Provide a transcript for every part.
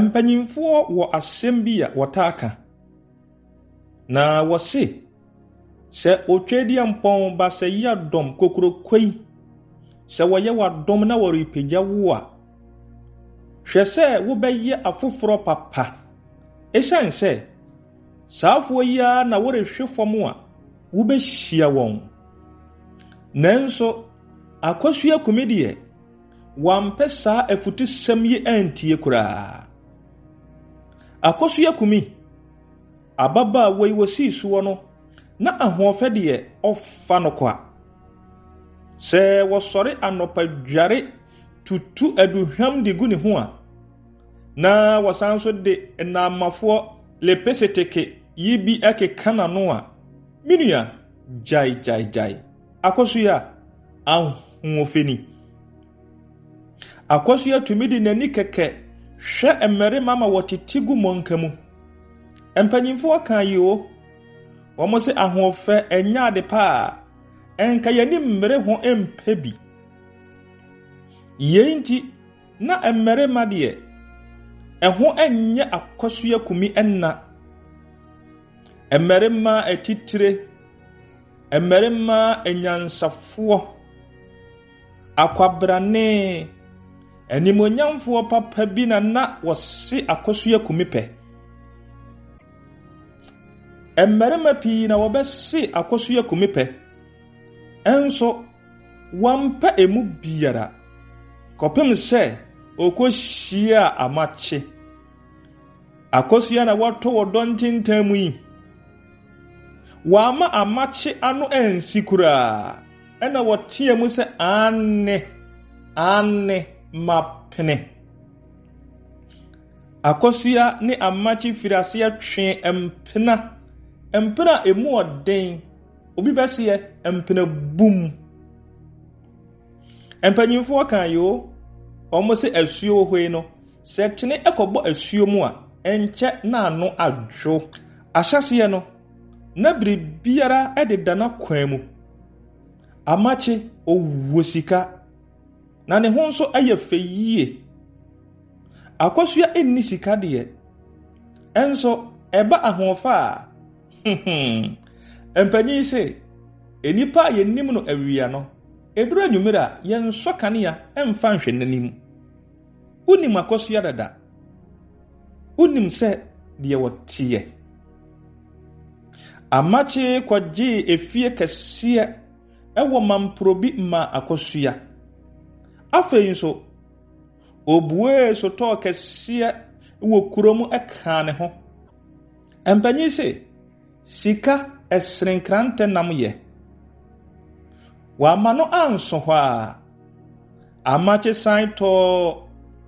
Mpanimfoɔ wɔ asɛm bi a wɔtaa ka, na wɔse, sɛ Otwadiampɔn Baasɛyea dɔm kokuroko yi, sɛ wɔyɛ w'adom na wɔrepagya wo a, hwɛ sɛ wobɛyɛ afoforɔ papa. Ɛsiane sɛ saafoɔ yi ara na worehwe fam a wobɛhyia wɔn. Nanso, Akosua Kumi deɛ, wampɛ saa afutusɛm yi antie koraa. Akosua Kumi, ababaawa yi wɔsii soɔ no, na ahoɔfɛ deɛ ɔfa no kwa. Sɛ wɔsɔre anɔpa dware tutu aduhwam de gu ne ho a, na wɔsan nso de nnaamafoɔ lepeseteke yi bi keka n'ano a, me nua, gyae gyae gyae. Akɔso yi a ahoɔfɛ ni. Akɔso yi atumi de n'ani kɛkɛ hwɛ mmarima ma wɔtete gu mmɔnka mu. Mpanyimfoɔ ka yi o, wɔn se ahoɔfɛ ɛnyɛ ade paa, ɛnka yɛni mmere ho mpɛ bi. Yei nti, na mmarima deɛ, ɛho nyɛ akɔso akumi nna. Mmarima atitire. Mmarima anyansafoɔ, akwabrane, animuonyamfoɔ papa bi na na wɔse akɔso yɛ kumi pɛ. Mmarima pii na wɔbɛse akɔso yɛ kumi pɛ. Ɛnso wɔmpɛ emu biara kɔpem sɛ ɔkɔhyia amakye. Akɔso yɛ na wɔto wɔ dɔntentan mu yi. Wɔamma amakye ano ansi koraa. Ɛnna wɔteaa mu sɛ, Aane, aane, mapene! Akosua ne amakye firi aseɛ twee mpena, mpena a emu ɔden, obi bɛseɛ, mpena bum. Mpanyinfoɔ kan yi o, wɔn sɛ asuo hɔ yi no, sɛ kyene kɔbɔ asuo mu a, nkyɛ n'ano adwo. Ahyɛaseɛ no, na biribiara deda n'akwan mu, amakye, ɔwɔ sika, na ne ho nso yɛ fɛ yie. Akosua nni sika deɛ, nso ɛba ahoɔfa a, mpanyin se, nnipa a yɛnim no awia no, ɛduru anwummere a, yɛnsɔ kanea mfa nhwɛ n'anim. Wonim akɔsoa dada. Wonim sɛ deɛ wɔteɛ. Amakyee kɔgyee efie kɛseɛ ɛwɔ Mamporobi maa akɔsoa. Afei nso, obuee sotɔɔ kɛseɛ wɔ kurom ɛkaa ne ho. Mpanyin se. Sika ɛsene nkrantɛ nam yɛ. Wamma no anso hɔ ara, Amakye san tɔɔ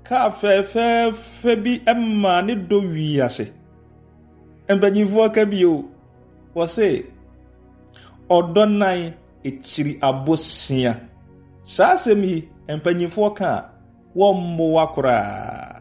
kaa fɛɛfɛɛfɛ bi maa ne dɔ wii ase. Mpanimfoɔ ka bio, wɔse, Ɔdɔ nan kyiri abosea. Saa asɛm yi, mpanimfoɔ ka a, wɔmmoa koraa.